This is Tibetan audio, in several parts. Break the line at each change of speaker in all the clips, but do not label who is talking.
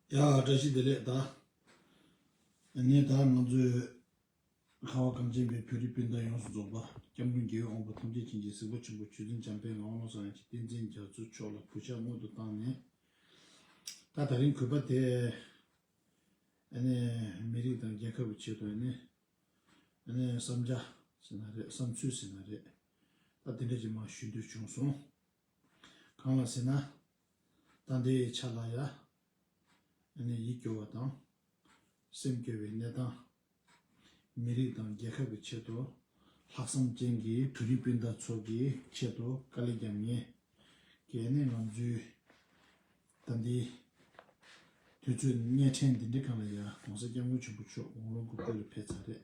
ཡ་བཀྲ་ཤིས་བདེ་ལེགས་ད་ངས་ད་ང་ཚོའི་ཁ་བ་གངས་ཅན་པའི་བོད་རིགས་སྤུན་ཟླ་ཡོངས་སུ་རྫོགས་པ་སྐྱབས་མགོན་རྒྱལ་བའི་དབང་པོ་ཐམས་ཅད་བྱིན་གྱིས་གཟིགས་པ་ཆེན་པོ་ཆོས་འཛིན་འཇམ་དཔལ་ངག་དབང་སངས་རྒྱས་བསྟན་འཛིན་རྒྱ་མཚོ་མཆོག་ལ་གུས་ཕྱག་སྔོན་དུ་བཏང་ནས་ད་ད་རིང་གུས་པ་དེ་ཨ་ནི་མི་རིགས་དང་རྒྱལ་ཁབ་ཀྱི་ཆེད་དུ་ཨ་ནི་ཨ་ནི་བསམ་རྒྱ་ཟེར་ན་རེད་བསམ་ཚུལ་ཟེར་ན་རེད་ད་དེ་འདྲ་ཅིག་མ་ཞུ་འདོད་བྱུང་སོང། གང་ལ་ཟེར་ན། ད་འདི་ཡི་ཆ་ལ་ཡ། ཨ་ནི་ཡིད་སྐྱོ་བ་དང། སེམས་སྐྱོ་བའི་གནས་སྟངས། མི་རིགས་དང་རྒྱལ་ཁབ་ཀྱི་ཆེད་དུ། ལྷག་བསམ་ཅན་གྱི་བོད་རིགས་སྤུན་ཟླ་ཚོ་གི་ཆེད་དུ་དཀའ་ལས་བརྒྱབ་ངེས། གལ་ནས་ང་ཚོའི། ད་འདི། དུས་ཚོད་གཉེར་ཕྲན་འདི་འདྲའི་སྐབས་ལ་ཡ་གོང་ས་སྐྱབས་མགོན་ཆེན་པོ་མཆོག་དགུང་ལོ་དགུ་བརྒྱ་རུ་ཕེབས་ཚར་རེད།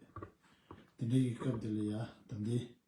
དེ་འདྲའི་གི་སྐབས་འདི་ལ་ཡ་ད་འདི།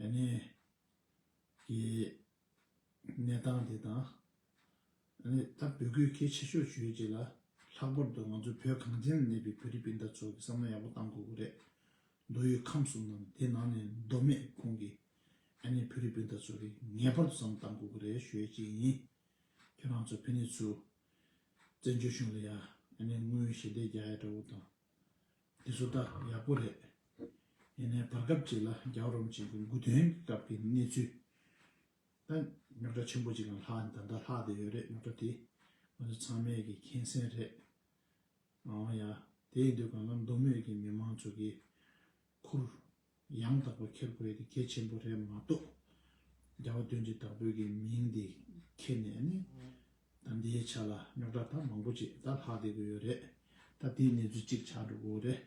ཡ་ནས་ཀྱི་གནས་སྟངས་དེ་དང། ཡ་ནས་ད་བོད་སྐད་གལ་ཆེ་ཤོས་ཆོས་ཅི་ལ། ལྷག་པར་དུ་ང་ཚོ་བོད་གངས་ཅན་ན་གནས་པའི་བོད་རིགས་སྤུན་ཟླ་ཚོ་གི་བསམ་བློ་ཡག་པོ་གཏང་དགོས་གི་རེད། མདོ་ཡུལ་ཁམས་གསུམ་ནང་དེ་ནང་ནས་མདོ་སྨད་ཁུངས་ཀྱི་ཡ་ནས་བོད་རིགས་སྤུན་ཟླ་ཚོ་གི་ངེས་པར་དུ་བསམ་བློ་གཏང་དགོས་གི་རེད་ཞོད་ཅིག་ཡིན། ཁྱོད་རང་ཚོ་ཕན་ནེ་ཚུ། བཙན་བྱོལ་གཞུང་ལ་ཡ། ཡ་ནས་དངུལ་ཞལ་འདེབས་རྒྱག་ཡ་འདྲ་བོ་དང། དེ་ཚོ་ད་ཡག་པོ་རེད། ཡིན་ནའི་བར་སྐབས་ཅིག་ལ་རྒྱ་རོམ་གྱི་དགུན་དགུན་སྟོན་གྱི་སྐབས་ཀྱི་གནས་ཚུལ་ད་རྙོག་དྲ་ཆེན་པོ་ཅིག་ལ་ལྷག་ད་ལྟ་ལྷག་བསྡད་ཡོད་རེད་རྙོག་དྲ་དེ་ང་ཚོ་ཚང་མས་ཀྱི་མཁྱེན་གསན་རེད། འང་ཡ་དེའི་དུས་གང་ལ་མདོ་སྨད་ཀྱི་མི་མང་ཚོ་གིས་ཁུར་ཡང་དག་པར་འཁྱེར་དགོས་ཡས་དེ་གལ་ཆེན་པོ་རེད་མ་གཏོགས། རྒྱ་བ་དོན་གྱི་དག་བོད་ཀྱི་མིང་དེ་འཁྱེར་ནས་ནི། ད་འདིའི་ཆ་ལ་རྙོག་དྲ་ད་མང་པོ་ཅིག་ད་ལྷག་བསྡད་དགོས་ཡོད་རེད། ད་དེའི་གནས་ཚུལ་ཅིག་ཆགས་འགྲོ་དགོས་རེད།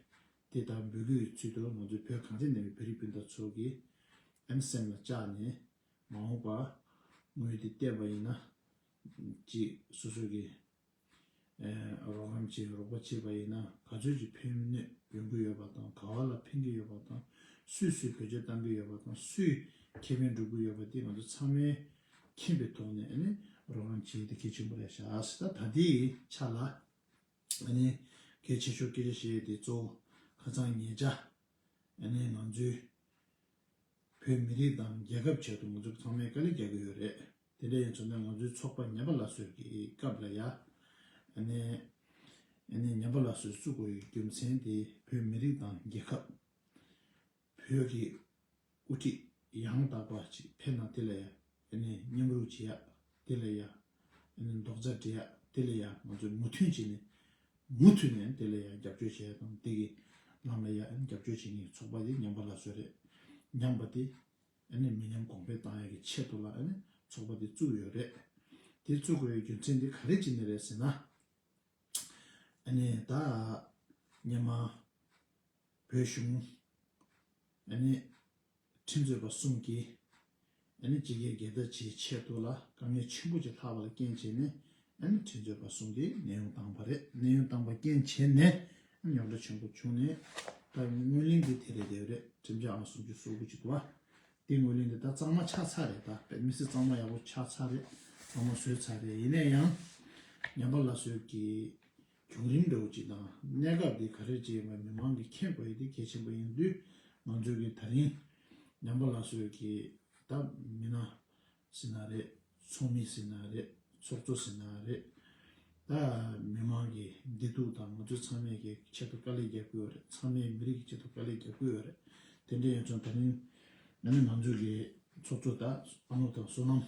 དེ་ད་འབུད་དགོས་ཡོད་ཚུལ་དུ་ང་ཚོའི་བོད་གངས་ཅན་ནང་བའི་བོད་རིགས་སྤུན་ཟླ་ཚོ་གི་ཨེམ་སེམས་ལ་བཅགས་ནས་མ་འོངས་པར་ངོས་དེ་བལྟས་པ་ཡིན་ན། ཅིག་སོ་སོ་གི། རོགས་རམ་བྱེད་རོགས་པ་བྱས་པ་ཡིན་ན་ག་ཚོད་ཀྱི་ཕན་གནོད་འདོན་གྱི་ཡོད་པ་དང་ག་བ་ལ་ཕན་གྱི་ཡོད་པ་དང་སུས་སུས་བེད་སྤྱོད་གཏང་གྱི་ཡོད་པ་དང་སུས་ཁེ་ཕན་སྒྲུབ་གྱི་ཡོད་པ་དེ་ང་ཚོ་ཚང་མས་མཁྱེན་པའི་ཐོག་ནས་རོགས་རམ་བྱེད་དེ་གལ་ཆེན་པོ་རེད་ཤག་སི་ད་ད་དེའི་ཆ་ལ་གལ་ཆེ་ཤོས་སྐད་ཆ་བཤད་དེ་གཙོ་བོ་ཁ་ཚང་ཉེ་བཅའ་ང་ཚོའི་བོད་མི་རིགས་དང་རྒྱལ་ཁབ་ཆེད་དུ་ང་ཚོས་ཚང་མས་དཀའ་ལས་རྒྱག་གི་ཡོད་རེད། དེ་འདྲ་ཡིན་ཚོད་ན་ང་ཚོའི་ཚོགས་པ་ཉམས་པ་ལ་སོས་ཀྱི་སྐབས་ལ་ཡ། ནས། ནས་ཉམས་པ་ལ་སོས་བསུ་དགོས་ཡོད་རྒྱུ་མཚན་དེ་བོད་མི་རིགས་དང་རྒྱལ་ཁབ། བོད་ཀྱི། དབུ་ཁྲིད་ཡང་དག་པ་ཅིག་ཕེབས་ན་དེ་ལ་ཡ། ནས་མཉམ་རུབ་བྱེད་ཡ། དེ་ལ་ཡ། ནས་མདོག་རྩ་འདྲི་ཡ་དེ་ལ་ཡ་ང་ཚོས་མུ་མཐུན་བྱེད་ནས་མུ་མཐུད་ནས་དེ་ལ་ཡང་རྒྱབ་སྐྱོར་བྱས་དང་དེ་གི་ལམ་ལ་ཡང་རྒྱབ་སྐྱོར་བྱེད་མཁན་ཚོགས་པ་དེ་ཉམས་པ་ལ་སོས་རེད་ཉམས་པ་དེ་མི་ཉམས་གོང་འཕེལ་བཏང་ཡག་གི་ཆེད་དུ་ལ་ཚོགས་པ་དེ་བཙུགས་ཡོད་རེད་དེ་བཙུགས་དགོས་ཡག་རྒྱུ་མཚན་དེ་ག་རེ་བྱེད་ནི་རེད་ཟེར་ན་ད་ཉི་མ་བོད་གཞུང་ཁྲིམས་རྩོད་པ་གསུམ་གྱིས་སྤྱི་སྒེར་སྒེར་བདག་བྱེད་ཆེད་དུ་ལ་དཀའ་ངལ་ཆེན་པོ་ཅིག་ལྷག་པ་ལ་རྐྱེན་བྱས་ནས་ཁྲིམས་རྩོད་པ་གསུམ་གྱིས་གནས་དབྱུང་བཏང་བ་རེད། གནས་དབྱུང་བཏང་བ་རྐྱེན་བྱས་ནས་ཉོག་དྲ་ཆེན་པོ་བྱུང་ནས་ད་ཡིན་ངོས་ལེན་གྱི་དེ་རེད་དེ་རེད་ཁྲིམས་འཆར་ཨང་སུམ་ཅུ་སོ་དགུ་ཅིག་ཏུའང་དེ་ངོས་ལེན་དེ་ད་གཙང་མ་ཆགས་ཚར་རེད་ད་བོད་མི་སེར་གཙང་མ་ཡག་པོ་ཆགས་ཚར་རེད་གཙང་མ་བཟོས་ཚར་རེད་ཡིན་ན་ཡང་ཉམས་པ་ལ་བཟོས་ཀྱི་བྱུང་རིམ་འདྲ་བོ་ཅིག་དང་གནད་འགག་འདི་ག་རེད་ཅེས་པ་མི་མང་གིས་མཁྱེན་དགོས་དེ་གལ་ཆེན་པོ་ཡིན་དུས་ང་ཚོས་ཀྱི་ད་རིང་ཉམས་པ་ལ་སོས་ཀྱི་ད་མི་ན་ཟི་ན་རེད་ཚོགས་མི་ཟི་ན་རེད་ཚོགས་གཙོ་ཟི་ན་རེད་ད་མི་མང་གི་བདེ་སྡུག་དང་ང་ཚོས་ཚང་མས་ཀྱི་ཆེད་དུ་དཀའ་ལས་རྒྱབ་ཀྱི་ཡོད་རེད་ཚང་མས་མི་རིགས་ཀྱི་ཆེད་དུ་དཀའ་ལས་རྒྱབ་ཀྱི་ཡོད་རེད་དེ་འདྲ་ཡོད་ཚོ་ད་རིང་ང་ནི་ང་ཚོས་ཀྱི་ཚོགས་གཙོ་ད་ཨ་ནུ་དང་བསོད་ནམས།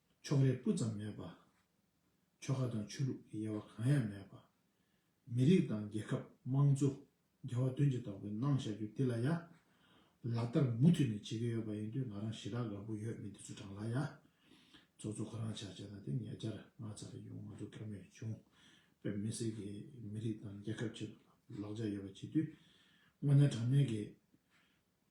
ཕྱོགས་རེས་སྤུ་ཙམ་མེད་པ། ཆོལ་ཁ་དང་ཆོས་ལུགས་ཀྱི་དབྱེ་བ་གང་ཡང་མེད་པ། མི་རིགས་དང་རྒྱལ་ཁབ་དམངས་གཙོ་རྒྱལ་བ་དོན་གྱི་རྟོགས་པའི་སྣང་བཞག་རྒྱུ་འདི་ལ་ཡ། ལག་བསྟར་མུ་མཐུད་ནས་བྱེད་ཀྱི་ཡོད་པ་ཡིན་དུས་ང་རང་ཞི་དྲག་དགའ་པོ་ཡོད་མི་འདི་ཚོ་དྲང་ལ་ཡ། ཚོགས་གཙོ་ཁོ་རང་ཆགས་བྱས་ན་དེ་ཉེ་ཆར་ང་ཚ་རེ་ཡོང་ང་ཚོ་དགའ་མོས་བྱུང། བོད་མི་སེར་གྱིས་མི་རིགས་དང་རྒྱལ་ཁབ་ཆེད་དུ་ལག་ཆ་ཡོད་པ་བྱེད་དུས། དངོས་གནས་དྲང་གནས་ཀྱི།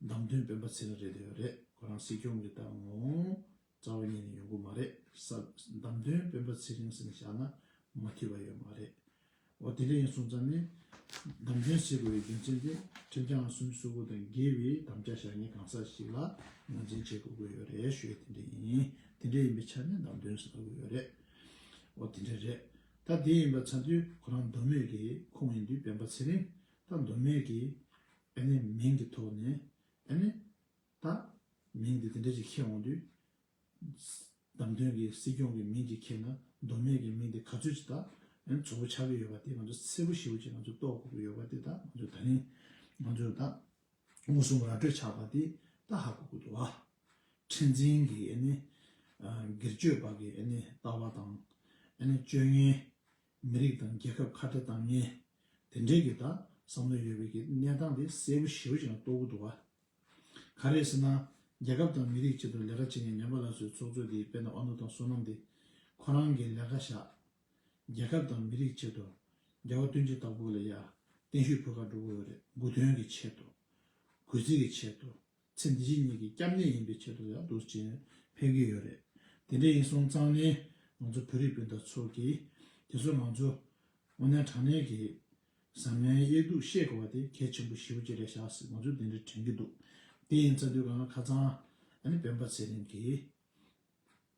ནམ་དོན་སྤེན་པ་ཚེ་ར་རེད་དོན་རེད་ཁོ་རང་སྲིད་སྐྱོང་གི་ཏང་ངོ་རྩ་བ་ཉིད་ནས་ཡོང་གི་མ་རེད་ས་ནམ་དོན་སྤེན་པ་ཚེ་རིང་སེམས་བཞག་ན་མ་འཁྱིལ་བ་ཡོད་མ་རེད་འོ་དེ་འདྲ་ཡིན་སོང་ཙམ་ནས་ནམ་དོན་སྲིད་གོ་བའི་རྒྱུ་མཚན་དེ་ཁྲིམས་བྱང་གསུམ་གསུར་བུ་དང་འགལ་བའི་དམ་བཅའ་བཞག་ཉིན་གང་ས་ཞིག་ལ་ངོས་འཛིན་བྱེད་དགོས་གི་ཡོད་རེད་ཤོད་དེ་འདྲ་ཡིན་དེ་འདྲ་ཡིན་པའི་ཆ་ནས་ནམ་དོན་ཟ་གི་ཡོད་རེད་འོ་དེ་འདྲ་རེད་ད་དེ་ཡིན་པ་ཚ་དུས་ཁོ་རང་མདོ་སྨད་ཀྱི་ཁོངས་ཡིན་དུས་སྤེན་པ་ཚེ་རིང་ད་མདོ་སྨད་ཀྱི། ཨ་ནེ་མིང་གི་ཐོག་ནས་ཨ་ནེ། ད། མིང་འདི་དེ་འདྲ་ཅིག་ཁྱེར་འོང་དུས། བདམས་ཐོན་གྱི་སྲིད་སྐྱོང་གི་མིང་ཅིག་ཁྱེར་ན་མདོ་སྨད་ཀྱི་མིང་དེ་ག་ཚོད་ཅིག་ད། ཚོར་བ་ཆགས་ཀྱི་ཡོད་པ་དེ་ང་ཚོ་གསལ་པོ་ཞིབ་པོ་ཅིག་ང་ཚོ་རྟོགས་དགོས་ཀྱི་ཡོད་པ་དེ་ད་ང་ཚོ་ད་རིང། ང་ཚོ་ད། མངོན་སུམ་ར་སྤྲོད་ཆགས་པ་དེ་ད་ཧ་གོ་གི་འདུག་ཨ། ཁྲེན་ཆིང་གིས་ཨ་ནེ། སྒེར་གཅོད་པ་གིས་ཨ་ནེ་ལྟ་བ་དང། ཨ་ནེ་སྤྱོད་ངན། མི་རིགས་དང་རྒྱལ་ཁབ་ཁ་བྲལ་བཏང་ངེས། དེ་འབྲེལ་གྱི་དག་བསམ་བློ་ཡོད་པའི་གནས་སྟངས་དེ་གསལ་པོ་ཞིབ་ཅིང་རྟོགས་གུ་འདུག་བ། ག་རེ་ཟེར་ན། རྒྱལ་ཁབ་དང་མི་རིགས་གཅིག་ཏུ་ལས་ཀ་བྱེད་མཁན་ཉམས་པ་ལ་སོའི་ཚོགས་གཙོ་དེའི་དཔེ་ན་ཨ་ནུ་དང་བསོད་ནམས་དེ་ཁོ་རང་གིས་ལས་ཀ་བཞག། རྒྱལ་ཁབ་དང་མི་རིགས་ཆེད་དུ་འགལ་བ་སྟོན་ཅི་ལྟ་བུ་ལ་ཡ་བརྟན་ཤོས་ཕུལ་ཁ་འགྲོ་གི་འོད་རེད་དགུ་དོན་གྱི་ཆེད་དུ། གུས་བརྩི་གི་ཆེད་དུ་ཚེ་འདི་བཞིན་ཉིད་ཀྱི་སྐྱབས་གནས་ཡིན་པའི་ཆེད་དུ་ཡང་དུས་རྒྱུན་ཕེབས་ཀྱི་ཡོད་རེད། དེ་འདྲ་ཡིན་སོང་ཙང་ནི་ང་ཚོ་བོད་རིགས་སྤུན་ཟླ་ཚོ་གིས་དེ་ཚོ་ང་ཚོ་དབུ་ནན་དྲང་ནན་གྱི་ཟ་མའི་དབྱེ་སྡུག་ཤེས་དགོས་པ་དེ་གལ་ཆེན་པོ་ཞེ་བོ་གཅིག་རེད་ཤག་སེ་ང་ཚོས་དེ་འདྲ་དྲན་གྱི་འདུག་དེ་ཡིན་ཚ་དུས་གང་ལ་ཁ་ཚང་ཨ་ནི་སྤེན་པ་ཚེ་རིང་གིས།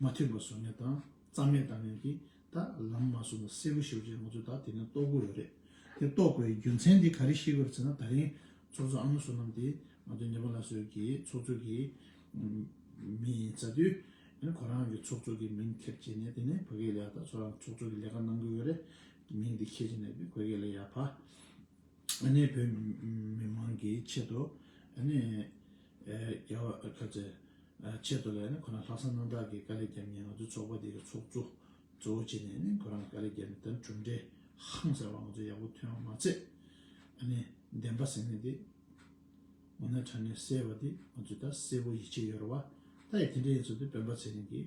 མ་མཐུན་པ་བཟོ་ནས་དང་རྩ་མེད་བཏང་ནས་ཀྱིས་ད་ལམ་མ་བཟོ་ན་གསལ་པོ་ཞུ་རྒྱུ་ཡོད་ང་ཚོ་ད་དེ་ནས་རྟོགས་དགོས་ཡོད་རེད་དེ་རྟོགས་དགོས་རྒྱུ་མཚན་དེ་ག་རེ་ཤེས་དགོས་རེད་ཟེར་ན་ད་རིང་ཚོགས་གཙོ་ཨ་མ་བསོད་ནམས་དེ་ང་ཚོ་ཉེ་པ་ལ་སོས་ཀྱི་ཚོགས་གཙོ་གི་མི་ཡིན་ཟེར་དུས་ཁོ་རང་གི་ཚོགས་གཙོ་གི་མིང་ཁེབས་བྱས་ནས་དེ་ནས་བོད་སྐད་ལས་ད་ཚོ་རང་ཚོགས་གཙོ་གི་ལས་ཀ་གནང་དགོས་ཡོད་རེད་མིང་དེ་ཁེབས་བྱས་ནས་བོད་སྐད་ལས་ཡག་ཕ་ནས་བོད་མི་མང་གི་ཆེད་དུ་ཨ་ནས་རྒྱ་བ་ཁ་ཚེ། ཆེད་དུ་ལས་ནི་ཁོ་ན་ལྷག་བསམ་རྣམ་དག་གིས་དཀའ་ལས་བརྒྱབ་ཉེན་ང་ཚོའི་ཚོགས་པ་འདི་གི་ཚོགས་གཙོ་གཙོ་བོ་བྱས་ནས་ནི་ཁོ་རང་དཀའ་ལས་བརྒྱབ་ནས་ད་གྲུབ་འབྲས་ཧང་ཟེར་བ་ང་ཚོ་ཡག་པོ་ཐོན་ཡོང་མ་ཚད་ཨ་ནི་བདེན་པ་ཟེར་ནི་འདི་ངོ་ནས་དྲན་ནས་གསལ་བ་འདི་ང་ཚོས་ད་གསལ་བོ་ཡིད་ཆེས་ཡོད་རེད་བ་ད་ཡི་དེ་འདྲ་ཡིན་ཚོད་འདི་སྤེན་པ་ཚེ་རིང་གིས་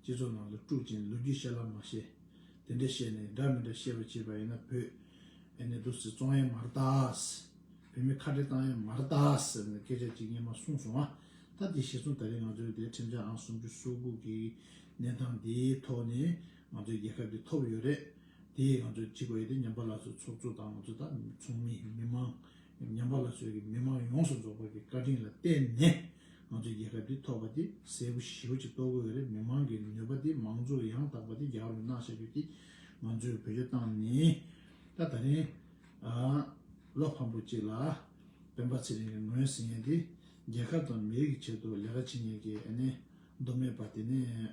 སྤྱི་ཚོགས་ནང་དུ་དཀྲུག་ཅིང་ལོ་རྒྱུས་བཤད་ལབ་མ་བཤད། དེ་འདྲ་བཤད་ནས་འདྲ་མི་འདྲ་བཤད་པ་བྱེད་པ་ཡིན་ན་བོད་ཨེ་ནས་འདུག་ཟེར་བཙོང་ཡས་མར་བཏགས། བོད་མི་ཁ་བྲལ་བཏང་ཡས་མར་བཏགས་ཟེར་ནས་སྐད་ཆ་གཅིག་གཉིས་མ་གསུངས་སོང་ཨ། ད་དེ་བཤད་སོང་ད་རེས་ང་ཚོའི་དེ་ཁྲིམས་འཆར་ཨང་སུམ་ཅུ་སོ་དགུ་གི་གནས་སྟངས་དེའི་ཐོག་ནས་ང་ཚོའི་རྒྱལ་ཁབ་ཀྱི་ཐོབ་ཡོད་རེད། དེས་ང་ཚོ་གཅིག་པ་ཡོད་དེ་ཉམས་པ་ལ་སོགས་ཚོགས་གཙོ་དང་ང་ཚོ་དག་ཚོགས་མི་མི་དམངས་ཉམས་པ་ལ་སོགས་ཀྱི་མི་དམངས་ཡོངས་སུ་རྫོགས་པར་གྱི་བཀའ་དྲིན་ལ་བརྟེན་ནས་ང་ཚོ་རྒྱལ་ཁབ་འདི་ཐོབ་པ་དེ་གསལ་པོ་ཞིའོ་ཅིག་རྟོགས་དགོས་རེད་མི་དམངས་ཀྱི་ནུས་པ་དེ་མང་གཙོ་ཡང་དག་པ་དེ་རྒྱ་གར་བའི་གནང་བྱ་རྒྱུ་དེ་ང་ཚོའི་བོད་ཆོས་བཏང་ནས་ད་ད་རིང་བློ་ཕམ་པོ་ཅིག་ལ་སྤེན་པ་ཚེ་རིང་གི་ངོས་ཟིན་ཡན་དེ་རྒྱལ་ཁབ་དང་མི་རིགས་ཀྱི་ཆེད་དུ་ལས་ཀ་བྱེད་ཡན་གྱི་ཨ་ནི་མདོ་སྨད་པ་དེ་ནས།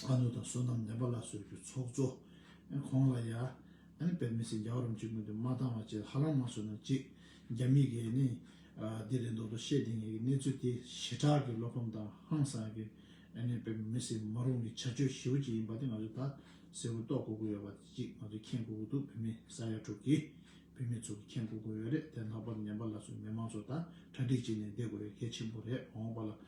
ཨ་ནུ་དང་བསོད་ནམས་ནེ་པ་ལ་སོགས་ཀྱི་ཚོགས་གཙོ། ཁོང་ལ་ཡ། པད་མི་སེར་རྒྱ་བ་རམ་གཅིག་མོ་དེ་མ་བཏང་བ་བཅས་ཧ་ལམ་མ་བཟོས་ན་ཅིག་རྒྱ་མི་གས་ནི། འདི་རེད་མདོག་མདོག་བཤད་དེ་ངས་གི་གནས་ཚུལ་དེ་ཞེ་དྲག་གི་བློ་ཕམ་དང་ཧང་སངས་ཀི། པད་མི་སེར་མ་རུང་གི་བྱ་སྤྱོད་ཞེ་བོ་ཅིག་ཡིན་པ་དེ་ང་ཚོས་ད་གསལ་བོ་རྟོགས་དགོས་དགོས་ཡོད་པ་དེ་ཅིག་ང་ཚོས་མཁྱེན་དགོས་དགོས་འདུག་བུད་མེད་ས་ཡ་དྲུག་གི། བུད་མེད་ཚོ་གི་མཁྱེན་དགོས་དགོས་ཡོད་རེད་དེ་ལྷག་པར་ནེ་པ་ལ་སོགས་མི་མང་ཚོ་ད་གྲ་སྒྲིག་བྱེད་ནས་བསྡད་དགོས་ཡོད་གལ་ཆེན་པོ་རེད་འོངས་པ་ལ་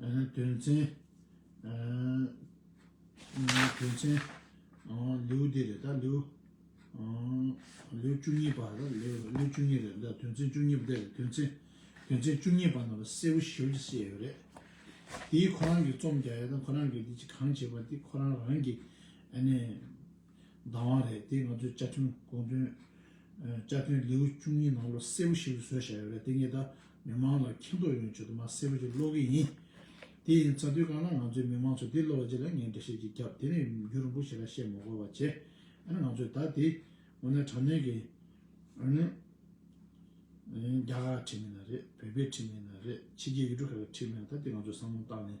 དོན་ཚན། དོན་ཚན། ལེའུ་འདི་རེད་ད་ལེའུ། ལེའུ་བཅུ་གཉིས་པ་རེད་ལེའུ་ལེའུ་བཅུ་གཉིས་རེད་ད་དོན་ཚན་བཅུ་གཉིས་པ་དེ་དོན་ཚན། དོན་ཚན་བཅུ་གཉིས་པ་ནང་ལ་གསལ་བོ་ཞིབ་ཀྱིས་བཤད་ཡོད་རེད། དེའི་ཁོ་རང་གིས་རྩོམ་རྒྱག་ཡ་དང་ཁོ་རང་གིས་འདི་ཅི་གང་བྱས་པ་དེ་ཁོ་རང་རང་གིས་ཨ་ནི། བདག་དབང་རེད་དེ་ང་ཚོའི་བཅའ་ཁྲིམས་དགོངས་དོན། བཅའ་ཁྲིམས་ལེའུ་བཅུ་གཉིས་ནང་བློ་གསལ་པོ་ཞིག་ལ་བཟོས་བཞག་ཡོད་རེད་དེ་ངེད་ད་མི་མང་ལ་མཁྱེན་རྟོགས་ཡོང་ཆེད་དུ་མ་གསལ་པོ་ཞིག་ཀློག་གི་ཡིན། དེ་ཡིན་ཚ་དུས་གང་ལ་ང་ཚོའི་མི་མང་ཚོས་དེ་ཀློག་རྗེས་ལ་ངས་འགྲེལ་བཤད་ཅིག་བརྒྱབ་དེ་ནས་མཇུག་རིང་པོ་ཞིག་ལ་བཤད་མ་གོ་བ་བྱས་ཨ་ནི་ང་ཚོས་ད་དེ་འོ་ན་དྲ་གནོན་གྱི་ཨ་ནི་རྒྱ་གར་ཁྲིམས་མིན་ན་རེད་བོད་པའི་ཁྲིམས་མིན་ན་རེད་ཕྱི་རྒྱལ་ཡུལ་གྲུ་ཁག་གི་ཁྲིམས་མིན་ན་ད་དེ་ང་ཚོས་བསམ་བློ་བཏང་ནས་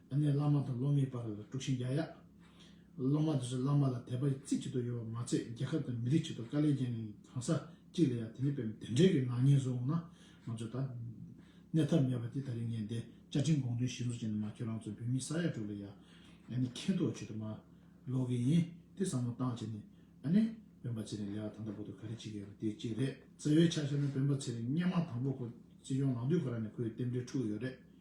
ཨ་ནེ་བླ་མ་དང་སློབ་མའི་བར་ལ་དཀྲུགས་ཤིང་རྒྱག་ཡ། སློབ་མ་དེ་ཚོས་བླ་མ་ལ་དད་པ་རྩེ་གཅིག་ཏུ་ཡོད་པ་མ་ཚད་རྒྱལ་ཁབ་དང་མི་རིགས་ཆེད་དུ་དཀའ་ལས་རྒྱག་མཁན་གྱི་གང་ཟག་གཅིག་ལ་ཡང་དེ་འདྲའི་བེམ་དེ་འདྲའི་གི་ནག་ཉེས་བཟོ་འོང་ན་ང་ཚོས་ད་གནས་ཐབས་མེད་པ་དེ་ད་རིང་ངས་འདའི་བཅའ་ཁྲིམས་དགོངས་དོན་གཞི་བཟུང་བྱས་ནས་མ་ཁྱོད་རང་ཚོ་བོད་མི་ས་ཡ་དྲུག་ལ་ཡ་ཨ་ནེ་མཁས་མདོག་བྱེད་དུ་མ་ལོག་གི་ཡིན་དེ་བསམ་བློ་བཏང་བྱས་ནས་ཨ་ནེ་བོན་པ་ཚེ་རིང་ལས་ཀ་ད་ལྟ་བོ་དུ་ག་རེ་བྱེད་ཀྱི་ཡོད་པ་དེ་གཅིག་རེད། བརྩེ་བའི་ཕྱག་བཞེས་ན་བོན་པ་ཚེ་རིང་སྙན་མང་དང་པོ་ཁོ་སྲིད་སྐྱོང་ལང་དུས་ཁོ་རང་ནས་ཁོའི་རྟེན་འབྲེལ་འཁྲུགས་ཡོད་རེད།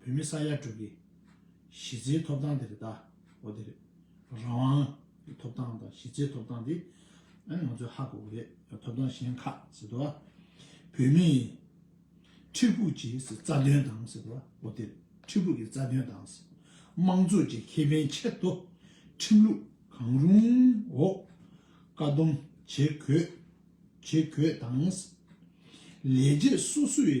བོད་མི་ས་ཡ་དྲུག་གི་གཞི་རྩའི་ཐོབ་ཐང་དེ་རེད་ད། འོ་དེ་རེད། རང་དབང་གི་ཐོབ་ཐང་དང་གཞི་རྩའི་ཐོབ་ཐང་དེ་ང་ཚོས་ཧ་གོ་གི་རེད། ཐོབ་ཐང་གཞན་ཁག་ཟེར་དུ་བ། བོད་མི་ཡི་ཁྲི་ཕུགས་ཀྱི་རྩ་དོན་དང་ཟེར་དུ་བ། འོ་དེ་རེད། ཁྲི་ཕུགས་ཀྱི་རྩ་དོན་དང། དམངས་གཙོ་གྱི་ཁེ་ཕན་ཆེད་དུ་ཁྲིམས་ལུགས་གང་རུང་འོག་བཀའ་སྡོམ་བྱེད་དགོས། བྱེད་དགོས་དང། ལས་བྱེད་སོ་སོའི།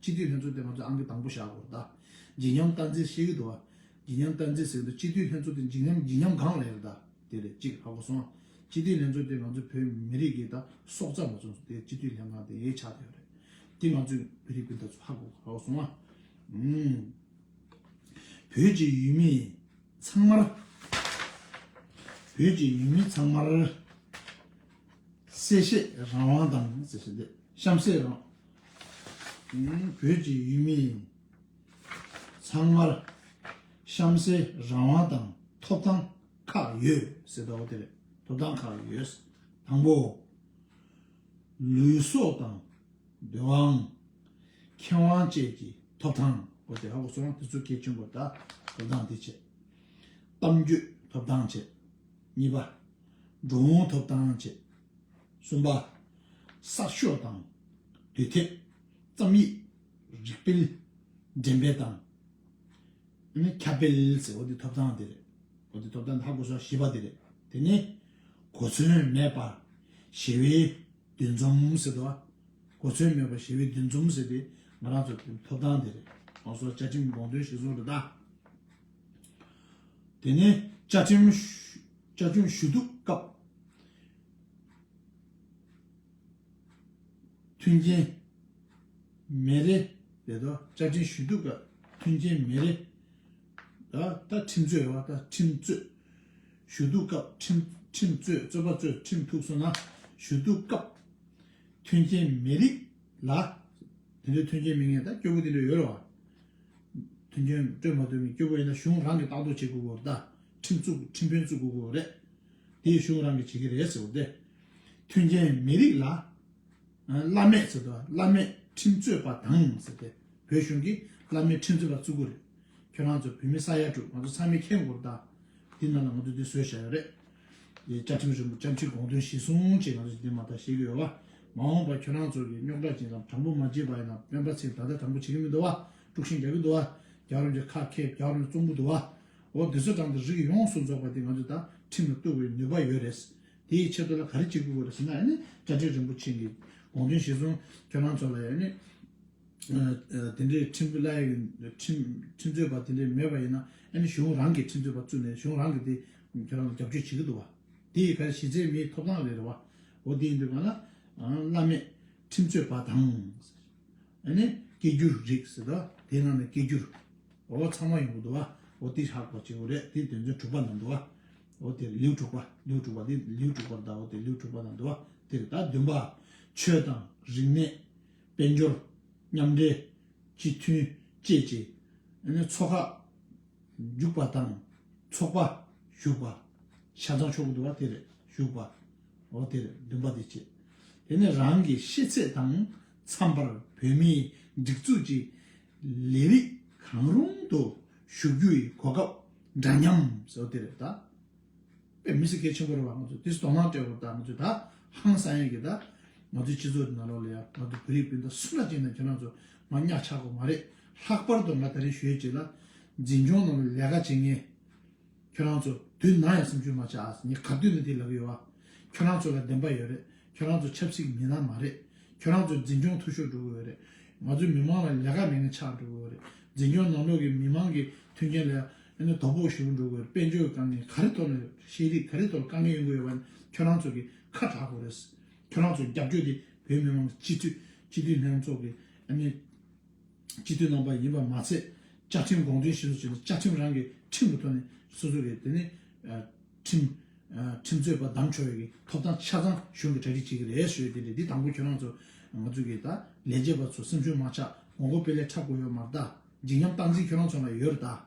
སྤྱི་འཐུས་ལྷན་ཚོགས་དེ་ང་ཚོས་ཨང་ཀི་དང་པོ་བཞག་དགོས་རེད་དཱ། ཇི་སྙམ་བཀའ་འཛིན་ཤེས་ཀྱི་འདུག་བ། ཇི་སྙམ་བཀའ་འཛིན་ཟེར་གི་འདུག་སྤྱི་འཐུས་ལྷན་ཚོགས་དེ་ཇི་སྙམ་ཇི་སྙམ་གང་ལེན་རེད་དཱ། དེ་རེད་གཅིག་ཧ་གོ་སོང། སྤྱི་འཐུས་ལྷན་ཚོགས་དེ་ང་ཚོ་བོད་མི་རིགས་ཀྱི་དཱ་སྲོག་རྩ་མ་ཚུགས་དེ་སྤྱི་འཐུས་ལྷན་ཁང་དེ་ཆགས་ཐུབ་ཡོད་རེད། དེ་ང་ཚོས་བོད་རིགས་སྤུན་ཟླ་ཚོ་ཧ་གོ་ཧ་གོ་སོང་ཨ། བོད་ཀྱི་ཡུལ་མི་ཚང་མར། བོད་ཀྱི་ཡུལ་མི་ཚང་མར། གསལ་བཤད་རང་དབང་དང་གསལ་བཤད་དེ་གཤམ་གསལ་རང། བོད་ཀྱི་ཡུལ་མི་ཚང་མར་གཤམ་གསལ་རང་དབང་དང་ཐོབ་ཐང་ཁག་ཡོད་ཟེར་ཟླ་བ་དེ་རེད་ཐོབ་ཐང་ཁག་ཡོད། དང་པོ། ལུས་སྲོག་དང་བདེ་བའང་ཁེ་དབང་བཅས་ཀྱི་ཐོབ་ཐང། དེ་ཚོ་གལ་ཆེན་པོ་དང་ཐོབ་ཐང་དེ་བཅས། གཏམ་རྒྱུད་ཐོབ་ཐང་བཅས། གཉིས་པ། འགྲོ་འོང་ཐོབ་ཐང་བཅས། གསུམ་པ། གསར་ཤོག་དང་དུས་དེབ། རྩོམ་ཡིག། རིགས་སྤེལ། འགྲེམས་སྤེལ་དང། ཁྱབ་སྤེལ་ཟེར་བ་འདི་ཐོབ་ཐང་དེ་རེད། གོ་དེ་ཐོབ་ཐང་ད་གོ་ས་བཞི་པ་དེ་རེད། དེ་ནི། གོ་མཚོན་མེད་པར་ཞི་བའི་འདུ་འཛོམས་ཟེར་དགོས། གོ་མཚོན་མེད་པར་ཞི་བའི་འདུ་འཛོམས་ཟེར་དེ་ང་རང་ཚོ་ཐོབ་ཐང་དེ་རེད། ལྷག་བསོག་བཅའ་ཁྲིམས་དགོངས་དོན་ཞིག་བཟུང་རེ་ད། དེ་ནས་བཅའ་ཁྲིམས་ཞུ་གཏུག་སྐབས། མཐུན་རྐྱེན་མེད་རེད་དོ། བཅའ་ཁྲིམས་ཞུ་གཏུག་སྐབས་མཐུན་རྐྱེན་མེད་རེད་དོ། ད་ཁྲིམས་རྩོད་ཡོད་པ་ད་ཁྲིམས་རྩོད། ཞུ་གཏུག་སྐབས་ཁྲིམས་རྩོད་རྩོད་པ་རྩོད་ཁྲིམས་ཐུགས་སོ་ན། ཞུ་གཏུག་སྐབས་མཐུན་རྐྱེན་མེད་རིགས་ལ། དེ་འདྲའི་མཐུན་རྐྱེན་མི་ངན་ད་སྐྱོ་པོ་དེ་འདྲ་ཡོད་རེད་བ། དོན་འཁྱོལ་སྤྲོད་མ་ཐུབ་མིན་སྐྱོ་པོ་ཡིན་ན་གཞུང་རང་གིས་ལྟ་རྟོག་བྱེད་དགོས་དགོས་རེད། ཁྲིམས་བཙུགས་ཁྲིམས་དཔོན་བཙུགས་དགོས་དགོས་རེད། དེ་གཞུང་རང་གིས་བྱེད་ཀྱི་རེད་ཟེར་བ་དེ། མཐུན་རྐྱེན་མི་རིགས་ལ། བླ་མེད་ཟེར་དུས་བླ་མེད་ཁྲིམས་རྩོད་པ་དང་ཟེར་དེ། བོད་གཞུང་གིས་བླ་མེད་ཁྲིམས་རྩོད་པ་བཙུགས་དགོས་རེད། ཁྱོད་རང་ཚོ་བོད་མི་ས་ཡ་དྲུག་ང་ཚོ་ཚང་མའི་ཁྱེད་མགོར་བལྟ། དེའི་ནང་ལ་ང་ཚོ་འདི་བཟོས་བཞག་ཡོད་རེད། བཅའ་ཁྲིམས་རིང་པོ་བཅའ་ཁྲིམས་དགོངས་དོན་གཞི་བཟུང་བཅས་ང་ཚོས་བྱེད་འདོད་མ་ཐག་ཤེས་ཀྱི་ཡོད་བ། མ་འོངས་པར་ཁྱོད་རང་ཚོ་གིས་རྙོག་དྲ་ཅན་ཙམ་དྲང་པོ་མ་བརྗེད་པ་ཡིན་ན་སྤེན་པ་ཚེ་ད་ལྟ་དྲང་པོ་བྱེད་ཀྱི་མི་འདུག་བ། དཀྲུག་ཤིང་རྒྱག་གི་འདུག་བ། རྒྱ་རོམ་གྱི་ཁ་ཁེབས་རྒྱ་རོམ་གྱི་ཙོང་པུ་འདུག་བ། འོ་འདི་ཚོ་དྲང་དུ་རིགས་ཡོངས་སུ་རྫོགས་པ་དེ་ང་ཚོས་དང་ཁྲིམས་ལ་གཏུགས་པའི་ནུས་པ་ཡོད་རེད། དེའི་ཆེད་དུ་ལ་ག་རེ་བྱེད་དགོས་དགོས་རེད་ཟེར་ན་ཡང་ནི་བཅའ་ཁྲིམས་རིན་པོ་ཆེ་གི་དགོངས་དོན་གཞི་བཟུང་ཁྱོད་རང་ཚོ་ལ་ཡང་ནི། དེ་འདྲའི་ཁྲིམས་བླ་ཡི་ཁྲིམས་རྩོད་པ་དེ་འདྲའི་མེད་པ་ཡིན་ན་ཡང་ནི་གཞུང་རང་གིས་ཁྲིམས་རྩོད་པ་བཙུགས་ནས་གཞུང་རང་གིས་དེ་ཁྱོད་རང་ལ་རྒྱབ་སྐྱོར་བྱེད་ཀྱི་འདུག་བ། དེ་ཡི་ག་རེ་གཞི་རྩའི་མིའི་ཐོབ་ཐང་རེད་རེད་བ། འོ་དེ་ཡིན་དུས་གང་ལ། བླ་མས། ཁྲིམས་རྩོད་པ་དང། ཨ་ནི། སྐད་སྒྱུར་རིགས་ཟེར་ཏོ། དེ་ནང་ནས་སྐད་སྒྱུར། འོ་ཚང་མ་ཡོང་གི་འདུག་བ། འོ་དེ་ཧ་གོ་བྱེད་དགོས་རེད་དེ་དོན་ཚན་དྲུག་པ་ནང་འདུག་བ། འོ་དེར་ལེའུ་དྲུག་པ། ལེའུ་དྲུག་པ་དེ་ལེའུ་དྲུག་པར་འདའོ་དེ་ལེའུ་དྲུག་པ་ནང་འདུག་བ། དེ་རེད་ད་བདུན་པ། ཆོས་དང། རིག་གནས། དཔལ་འབྱོར། མཉམ་འབྲེལ། སྤྱི་མཐུན། བཅས་ཀྱི། ཨ་ནི། ཚོགས་ཁག། འཇུག་པ་དང། ཚོགས་པ། ཞུགས་པ། ཤ་ཚང་ཕྱོགས་བསྡུ་བ་དེ་རེད་ཞུགས་པ། འོ་དེ་རེད་འདུན་པ་དེ་བྱེད། དེ་ནས་རང་གི་ཤེས་ཚད་དང་འཚམས་པར་བོད་མིའི་སྒྲིག་འཛུགས་ཀྱི་ལས་རིགས་གང་རུང་དུ་ཞུགས་རྒྱུ་ཡི་གོ་སྐབས་འདྲ་མཉམ། འོ་དེ་རེད་ད། པའི་མི་སེར་གལ་ཆེན་པོ་རེད་བ་ང་ཚོ་དེ་སྟོང་ལྷང་སྤྲད་བོ་ད་ང་ཚོ་ད་ཧང་སང་ཡོད་གི་ད་ང་ཚོའི་སྤྱི་ཚོགས་ཀྱི་ནང་ལོག་ལ་ཡ་ང་ཚོ་བོད་རིགས་སྤུན་ཟླ་སུ་འདྲ་ཅིག་ནང་ཁྱེད་རང་ཚོ་ང་གཉའ་ཆག་གོ་མ་རེད་ལྷག་པར་དུ་ང་ད་རིང་ཞོལ་གྱི་ལ་འཛིན་སྐྱོང་ནང་ལ་ལས་ཀ་བྱེད་ངེས་ཁྱེད་རང་ཚོ་དུས་ནང་ཡང་སེམས་ཆུང་མ་ཆག་ངས་ག་དུས་ནས་དེ་ལབ་ཡོད་བ་ཁྱེད་རང་ཚོ་ལ་བདེན་པ་ཡོད་རེད་ཁྱེད་རང་ཚོ་ཆབ་སྲིད་ཀྱི་མི་སྣ་མ་རེད་ཁྱེད་རང་ཚོ་འཛིན་སྐྱོང་འཐུས་ཤོར་འགྲོ་གི་ཡོད་རེད་ང་ཚོའི་མི་མང་ལ་ལས་ཀ་མེད་ངན་ཆག་འགྲོ་གི་ཡོད་རེད་འཛིན་སྐྱོང་ནང་ལོག་གི་མི་མང་གི་མཐུན་རྐྱེན་ལ་ཡ། ཡང་ན་དོ་ཕོག་ཞུ་བ་འགྲོ་བའི་དཔལ་འབྱོར་དཀའ་ངལ་ག་རེ་ཐོག་ནས་ཤེས་རིག་ག་རེ་ཐོག་དཀའ་ངལ་ཡོང་གི་ཡོད་པ་ནི་ཁྱོད་རང་ཚོ་གིས་ཁ་གྲག་དགོས་རེད། ཁྱོད་རང་ཚོ་རྒྱབ་སྐྱོར་དེ་བོད་མི་མང་སྤྱི་འཐུས་སྤྱི་འཐུས་ལྷན་ཚོགས་ཀྱི་ཡང་ན་སྤྱི་འཐུས་རྣམ་པ་ཡིན་པ་མ་ཚད་བཅའ་ཁྲིམས་དགོངས་དོན་བཞིན་བཟོ་བྱས་ནས་བཅའ་ཁྲིམས་རང་གི་ཁྲིམས་ཀྱི་ཐོག་ནས་སོ་སོ་གིས་དེ་ནི་ཁྲིམས་ཁྲིམས་རྩོད་པ་བདམས་ཆོག་ཡོད་ཀྱི་ཐོབ་ཐང་ཆ་ཚང་གཞུང་གིས་གྲ་སྒྲིག་བྱེད་ཀྱི་རེད་ཟེར་ཡོད་དེ་འདྲ་འདི་དང་པོ་ཁྱོད་རང་ཚོ་ང་ཚོ་གིས་ད་ལས་བྱེད་པ་ཚོ་སེམས་ཤུགས་མ་ཆག་མགོ་མགོ་དཔེ་ལས་འཁྲབ་དགོས་ཡོད་མ་གཏའ། བརྗིད་ཉམས་སྟངས་འཛིན་ཁྱོད་རང་ཚོ་ལ་ཡོད་རེད་ད།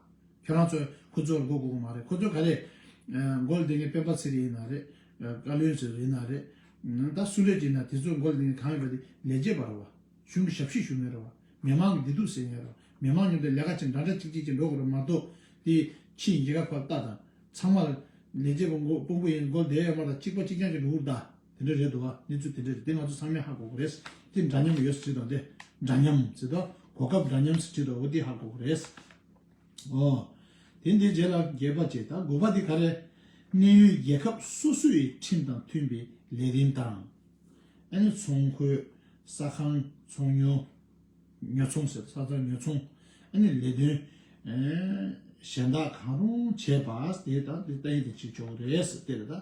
ཁྱོད་རང་ཚོས་ཁོ་ཚོར་མགོ་སྒུར་གི་མ་རེད་ཁོ་ཚོས་ག་རེ། མགོ་ལ་འདི་ངའི་སྤེན་པ་ཚེ་རིང་ཡིན་ན་རེད། བཀའ་བློན་ཚེ་རིང་ཡིན་ན་རེད། ད་སུ་རེད་ཅེ་ན་དེ་ཚོའི་མགོ་ལ་འདི་ངའི་གང་ཡོད་པ་དེ་ལས་བྱེད་པ་རེད་བ། གཞུང་གི་ཞབས་ཕྱི་ཞུ་མེད་རེད་བ། མི་མང་གི་བདེ་སྡུག་སེལ་མཁན་རེད་བ། མི་མང་ཉོབ་ཏེ་ལས་ཀ་བྱེད་འདྲ་འདྲ་ཅིག་ཅིག་བྱེད་འགྲོ་དགོས་རེད་མ་གཏོགས། དེ་ཕྱི་ཡི་འགྱེད་ཁ་ཕབ་རྟགས་དང། ཚང་མ། ལས་བྱེད་པ་མགོ་སྤུན་པོ་ཡིན་མགོ་ལ་འདེད་ཡོད་མ་རེད་གཅིག་པ་གཅིག་རྐྱང་གཅིག་འགྲོ་འུར་རྟགས། དེ་འདྲ་རེད་འདུག་བ་གནས་ཚུལ་དེ་འདྲ་རེད་དེ་ང་ཚོ་ཚང་མས་ཧ་གོ་གོ་རེད་དེ་འདྲ་མཉམ་ཡོད་ཟེར་དང་དེ་འདྲ་མཉམ་ཟེར་དང་གོ་སྐབས་འདྲ་མཉམ་ཟེར་ཁྲིད་དང་བོ་དེ་ཧ་གོ་གོ་རེད་ཨོ། དེ་འདི་རྗེས་ལ་རྒྱས་པ་བྱས་ད་གོ་བ་དེ་ག་རེད་གནས་ཡུལ་རྒྱལ་ཁབ་སོ་སོ་ཡི་ཁྲིམས་དང་མཐུན་པའི་ལས་རིམ་དང། ཨ་ནི་ཚོང་ཁོས་ས་ཁང་ཚོང་ཉོ་ཉོ་ཚོང་ཟེར་ས་ཚང་ཉོ་ཚོང་ཨ་ནི་ལས་དོན་གཞན་དག་གང་རུང་བྱས་པ་དེ་དང་དེ་ལྟ་ཡིན་དེ་བྱེད་ཆོག་གོ་རེད་དེ་རེད་ད།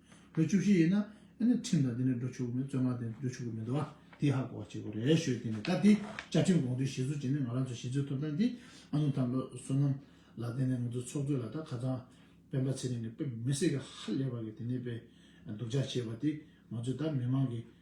ལོ་བཅུ་བཞི་ཡིན་ན་ཁྲིམས་དང་དེ་ནས་འགྲོ་ཆོག་གི་མེད་བཙོན་ཁང་དེ་འགྲོ་ཆོག་གི་མེད་འདུག་དེ་ཧ་གོ་བ་བྱེད་དགོས་རེད་ཞོས་དེ་ནས་ད་དེ་བཅའ་ཁྲིམས་དགོངས་དོན་གཞི་བཟོ་བྱེད་ནི་ང་རང་ཚོ་གཞི་རྩའི་ཐོབ་ཐང་དེ་ཨ་ནུ་ཐང་ལོ་བསོད་ནམས་ལགས་དེ་ནས་ང་ཚོའི་ཚོགས་གཙོས་ལ་ད་ག་ཚང་སྤེན་པ་ཚེ་རིང་གི་སྤེན་མི་སྲིད་གི་ཧ་ལས་པ་གི་དེ་ནས་པའི་སྡུག་ཅག་བྱེད་པ་དེ་ང་ཚོའི་ད་མི་མང་གི་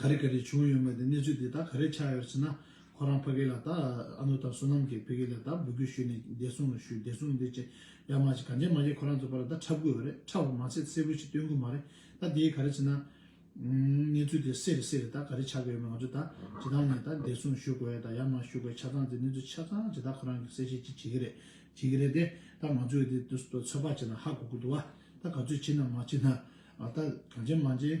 ག་རེ་ག་རེ་བྱུང་ཡོད་མེད་དེ་གནས་ཚུལ་དེ་དག་ག་རེ་ཆགས་ཡོད་ཟེར་ན་ཁོ་རང་ཕ་གི་ལ་དྭགས་ཨ་ནུ་དང་བསོད་ནམས་ཀྱི་ཕ་གི་ལ་དྭགས་འབོད་སྐུལ་ཞུས་ནས་བདེ་སྲུང་ལ་ཞུས་བདེ་སྲུང་འདི་ཅི་ཡང་མ་བྱས་གང་བྱས་མ་བྱས་ཁོ་རང་ཚོ་ཕ་ལ་དྭགས་འཁྲབ་དགོས་པ་རེད་འཁྲབ་པ་མ་ཚད་གསལ་བོ་ཞིག་སྟོན་དགོས་མ་རེད་ད་དེ་ག་རེ་ཟེར་ན། གནས་ཚུལ་དེ་སེ་རེ་སེ་རེ་དག་ག་རེ་ཆགས་ཀྱི་ཡོད་མེད་ང་ཚོ་དག་ཇི་ཐང་ནས་དག་བདེ་སྲུང་ཞུ་དགོས་དང་ཡང་མ་ཞུ་དགོས་ཆ་ཚང་དེ་གནས་ཚུལ་ཆ་ཚང་དེ་དག་ཁོ་རང་གི་གསལ་བཤད་ཅིག་བྱེད་ཀྱི་རེད་བྱེད་ཀྱི་རེད་དེ་ད་ང་ཚོས་དེ་ཚོད་དཔག་བྱས་ན་ཧ་གོ་གི་འདུག་ད་ག་ཚོད་བྱེད་ན་མ་བྱེད་ན་ད་གང་བྱས་མ་བྱས།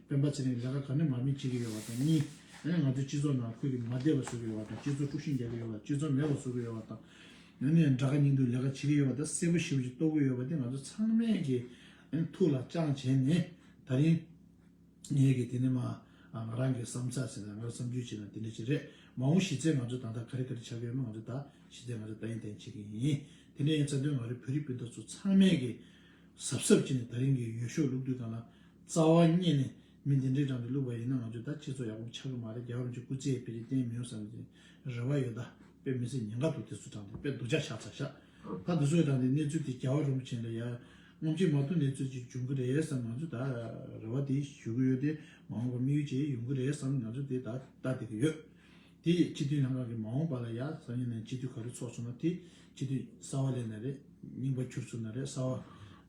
སྤེན་པ་ཚེ་རིང་ལས་ཀ་ག་ནས་མར་མེ་བྱེད་ཀྱི་ཡོད་པ་དང་གཉིས། ང་ཚོའི་སྤྱི་ཚོགས་ནང་ཁུལ་གྱི་མ་བདེ་བ་བཟོ་གི་ཡོད་པ་དང་སྤྱི་ཚོགས་དཀྲུགས་ཤིང་རྒྱག་གི་ཡོད་པ་སྤྱོད་མཚམས་མེད་པ་བཟོ་གི་ཡོད་པ་དང། ཡང་ན་ཡང་དགྲ་ཁ་སྙིང་དུ་ལས་ཀ་བྱེད་ཀྱི་ཡོད་པ་དང་གསལ་པོ་ཞིབ་ཅིག་རྟོགས་གི་ཡོད་པ་དེ་ང་ཚོ་ཚང་མས་ཀྱི་ཐུགས་ལ་བཅངས་བྱས་ནས་ད་རིང་ངས་ཀྱི་དེ་ནས་མ་ང་རང་གི་བསམ་ཚགས་བྱས་ན་ང་རང་བསམ་ཚུལ་བྱས་ན་དེ་འདྲ་ཞིག་རེད་མ་འོངས་གཞི་རྩའི་ང་ཚོ་ད་ལྟ་ག་རེ་ག་རེ་བྱ་གི་ཡོད་མེད་ང་ཚོ་ད་གཞི་རྩའི་ང་ཚོ་ད་ཡིན་ད་ཡིན་བྱེད་ཀྱི་ཡིན་དེ་འདྲ་ཡིན་ཚ་དོན་ང་རི་བོད་རིགས་སྤུན་ཟླ་ཚོ་ཚང་མས་ཀྱི་གཟབ་གཟབ་བྱས་ནས་ད་རིང་གི་ཡོ་ཤོག་ལུགས་མཐུན་གང་ལ། རྩ་བ་རྙེད་ནས་མི་འདི་འདྲས་དྲངས་ཏེ་བླུགས་པ་ཡིན་ན་ང་ཚོས་ད་ཁྱེད་ཚོ་ཡག་པོ་མི་ཆགས་གི་མ་རེད་རྒྱ་གར་གྱི་སྐུ་ཚེའི་དཔེ་རིས་བསྟན་མི་ཡོང་བསམ་གྱི་རེ་བ་ཡོད་ད་དཔེ་མི་ཚེ་ཉེན་ཁ་འདུག་དེ་ཚོ་དྲངས་ཏེ་དཔེ་སྡུག་ཅག་བཞག་ཚར་ཤག་ད་འདི་ཚོ་དྲངས་ཏེ་གནས་ཚུལ་དེ་རྒྱ་བ་རིན་པོ་ཆེ་ལ་ཡར་ངོམ་གྱི་མ་ཐུབ་གནས་ཚུལ་གཅིག་འབྱུང་གི་རེད་བསམ་ང་ཚོས་ད་རེ་བ་དེ་ཞུ་གི་ཡོད་དེ་མ་འོངས་པར་དམིགས་ཡུལ་ཅིག་ཡོང་གི་རེད་བསམ་ང་ཚོས་དེ་ད་ལྟ་བསྡད་ཀྱི་ཡོད་དེ་ཡིས་སྤྱི་འཐུས་ལྷན་ཁང་གི་མ་འོངས་པ་ལ་ཡ་ས་ཉེ་ནས་སྤྱི་འཐུས་ག་རེ་ཚོགས་སོང་ན་དེ་སྤྱི་འཐུས་གསར་བ་ལས་ན་རེ་རྙིང་པ་འཁྱུར་ཚུར་ན་རེ་གསར་བ་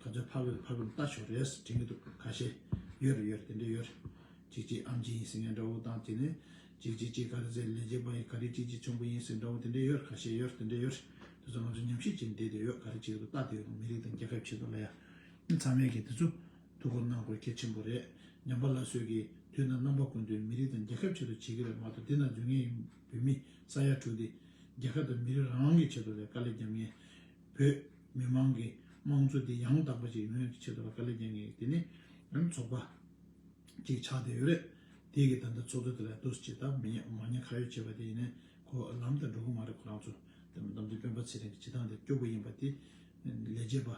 ཁ་ཚོན་ཕར་བུད་ཕར་བུད་ལྟ་ཞོར་རེས་བྲིས་མི་འདུག་ཁ་ཤས། ཡོད་རེད་ཡོད་རེད་དེ་འདྲས་ཡོད་རེད། ཅིག་ཅིག་ཨམ་ཆིན་ཡིན་ཟེར་མཁན་འདྲ་བོ་དང་དེ་ནས། ཅིག་ཅིག་ཅིག་ག་རེ་ཟེར་ལས་བྱེད་པ་ཡིན་ག་རེ་ཅིག་ཅིག་ཆུང་པོ་ཡིན་ཟེར་འདྲ་བོ་དེ་འདྲས་ཡོད་རེད་ཁ་ཤས་ཡོད་རེད་དེ་འདྲས་ཡོད་རེད། དེ་ཚོ་ང་ཚོ་ཉམས་ཞིབ་བྱེད་འདོད་ཡོད་ག་རེ་བྱེད་འདོད་ལྟ་འདོད་ཡོད་མི་རིགས་དང་རྒྱལ་ཁབ་ཆེད་དུ་ལ་ཡ། ཚང་མས་ཀྱིས་དེ་ཚོ་ཐུགས་ཁུར་གནང་དགོས་གལ་ཆེན་པོ་རེད། ཉམས་པ་ལ་སོས་ཀྱིས་དུས་དང་རྣམ་པ་ཀུན་ཏུ་མི་རིགས་དང་རྒྱལ་ཁབ་ཆེད་དུ་བྱེད་ཀྱི་རེད་མ་གཏོགས་འདི་ན་རྫུན་ངན་ཡིན་བོད་མི་ས་ཡ་དྲུག་འདི། རྒྱལ་ཁབ་དང་མི་རིགས་རང་དབང་གི་ཆེད་དུ་ལས་ཀ་ལས་རྒྱབ་ངན། བོད་མི་མང་གི་དམངས་གཙོ་དེ་ཡང་དག་པ་ཅིག་ཡོང་ཡག་གི་ཆེད་དུ་བ་ཀ་ལས་ཀྱང་ངས་དེ་ནས་ཡང་ཚོགས་པ་ཅིག་ཆགས་བསྡད་ཡོད་རེད། དེ་གི་ད་ལྟ་ཚོགས་འདུ་དེ་ལ་འདུ་ཆེ་དང་མི་མ་ཉེ་ཁ་ཡོད་བྱས་པ་དེ་ཡིན་ནས་གོ་ལམ་དང་འགྲོ་གི་མ་རེད་ཁོ་རང་ཚོ་དེ་མདོ་འདི་སྤེན་པ་ཚེ་རིང་གི་བྱེད་སྟངས་དེ་སྐྱོ་པོ་ཡིན་པ་དེ་ལས་བྱེད་པ་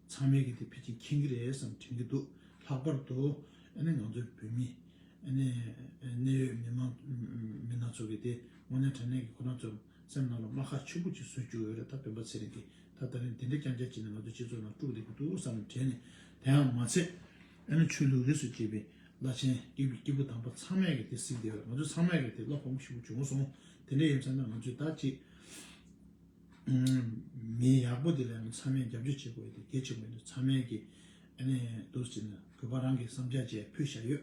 ཚང་མས་གི་དེ་ཕི་ཅིང་མཁྱེན་གི་རེད་བསམ་དྲན་གི་འདུག་ལྷག་པར་དུ་ཨ་ནི་ང་ཚོའི་བོད་མི་ཨ་ནི་གནད་ཡོད་མི་མང་མི་སྣ་ཚོ་གི་དེ་དངོས་གནས་དྲན་ནས་གི་ཁོ་རང་ཚོ་སེམས་ནང་ལ་རྨ་ཁ་ཆུ་བུར་གྱིས་བཟོས་བཅུག་ཡོད་རེད་ད་བོན་པ་ཚེ་རིང་གིས་ད་ལྟ་རིང་འདི་འདྲའི་རྐྱང་རྐྱང་བྱས་ནས་ང་ཚོའི་སྤྱི་ཚོགས་ནང་དཀྲུགས་བསྡད་ཀྱི་འདུག་བསམ་ནས་དྲན་ནས་དེའང་མ་ཚད། ཨེ་ན་ཆོས་ལུགས་རིས་སུ་བཅད་པའི་བླ་ཆེན་སྐྱིད་པོ་དམ་པ་ཚང་མས་ཀྱི་དེ་གཟིགས་བསྡད་པས་ང་ཚོས་ཚང་མས་ཀྱི་དེ་བློ་ཕམ་པོ་ཞིག་པོ་བྱུང་སོང་དེ་འདྲའི་ཡིན་བསམ་ནས་ང་ཚོས་ད་ཅི། མི་ཡག་པོ་དེ་ལ་ཡང་ཚང་མས་རྒྱབ་སྐྱོར་བྱེད་དགོས་དེ་གལ་ཆེན་པོ་ཡིན་འདུག་ཚང་མས་ཀྱི་ཨེ་ནས་འདུག་ཅེ་ན་གུས་པ་རང་གིས་བསམ་འཆར་བཅས་ཕུལ་བཞག་ཡོད་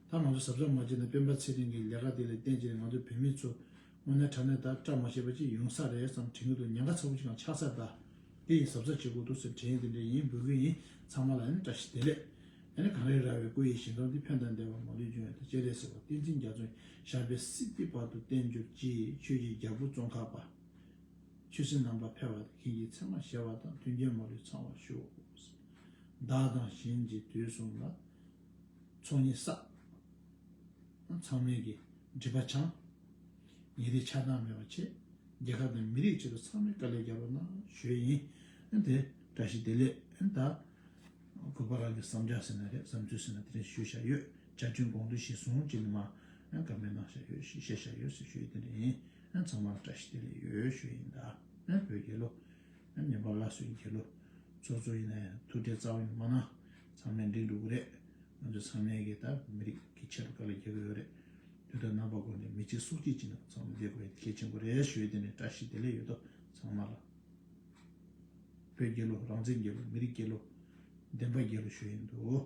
ད་ང་ཚོ་ཟབ་སྦྱོང་མ་བྱས་ན་སྤེན་པ་ཚེ་རིང་གི་ལས་ཀ་དེ་ལས་བསྟན་བྱས་ན་ང་ཚོ་བོད་མི་ཚོ་དངོས་གནས་དྲ་གནས་དག་བཀྲ་མ་ཤེས་པ་ཅིག་ཡོང་ས་རེད་བསམ་དྲན་གྱི་འདུག་ཉེན་ཁ་ཚ་བོ་ཅིག་ཀྱང་ཆགས་ས་གདའ། དེ་ཡིན་ཟབ་ས་བྱེད་དགོས་འདུག་སེམས་དྲན་དེ་འདྲ་ཡིན་འབུལ་གྱི་ཡིན་ཚང་མ་ལ་ཡང་བཀྲ་ཤིས་བདེ་ལེགས། ད་ནི་གངས་རི་རྭ་བའི་སྐུ་ཡི་ཞིང་ཁམས་འདི་ཕན་དང་བདེ་བར་མ་ལུས་འབྱུང་ཡོད་དང་སྤྱན་རས་གཟིགས་པ་བསྟན་འཛིན་རྒྱ་མཚོ་ཞབས་པད་སྲིད་སྟེར་བར་དུ་བརྟན་གྱུར་ཅིག་ཆོས་ཀྱི་རྒྱལ་པོ་ཙོང་ཁ་པ། ཆོས་སྲིད་ནང་པ་ཕལ་བ་དང་མཁན་གྱི་ཚད་མ་ཞལ་བ་དང་མཐུན་རྐྱེན་མ་ལུས་ཚང་བར་ཤོག། བདག་དང་གཞན་གྱི་དུས་གསུམ་ལ། ཚོགས་གཉིས་བསགས། ཚང་མིང་གི་སྒྲིབ་པ་བྱང། ཉིན་རེའི་ཆགས་སྡང་མེད་པར་བྱས། རྒྱལ་ཁབ་དང་མི་རིགས་ཆེད་དུ་ཚང་མས་དཀའ་ལས་རྒྱག་པ་ན་གཞོལ་ཡིན། དེ་བཀྲ་ཤིས་བདེ་ལེགས། ད་དགོས་པ་རང་གི་བསམ་འཆར་ཟེར་ན་རེད་བསམ་ཚུལ་ཟེར་ན་དེ་རིང་ཞུས་བཞག་ཡོད་བཅའ་ཁྲིམས་དགོངས་དོན་གཞིར་བཟུང་སྤྱི་ནས་མ་དགའ་མོས་གནང་བཞག་ཡོད་ཞེས་བཤད་བཞག་ཡོད་ཟེར་ཞུ་ཡི་དེ་འདྲ་ཡིན། ཚང་མར་བཀྲ་ཤིས་བདེ་ལེགས་ཡོད་ཞུ་ཡིན་ད། བོད་རྒྱལ་ལོ། ཉམས་པ་སླར་གསོའི་རྒྱལ་ལོ། ཚོགས་གཙོ་ཡིན་ན་ཡང་ཐུགས་འཕྲད་རྩ་བ་ནས་མ་གནང། ཚང་མས་འགྲིག་འགྲོ་གི་རེད། ང་ཚོས་ཚང་མས་ཀྱི་ད་མི་རིགས་ཀྱི་ཆེད་དུ་ག་ལ་རྒྱག་གི་ཡོད་རེད། དུས་ད་རྣམ་པ་འགོར་ནས་མི་གཅིག་སྲོག་གཅིག་གཅིག་ནང་ཚང་མ་འདེད་དགོས་ཡ་དེ་གལ་ཆེན་པོ་རེད་ཞུས་དེ་ནས་བཀྲ་ཤིས་བདེ་ལེགས་ཡོད་དོ་ཚང་མ་ལ། བོད་རྒྱལ་ལོ་རང་བཙན་རྒྱལ་ལོ་མི་རིགས་རྒྱལ་ལོ་བདེན་པ་རྒྱལ་ལོ་ཞུ་ཡི་འདུག།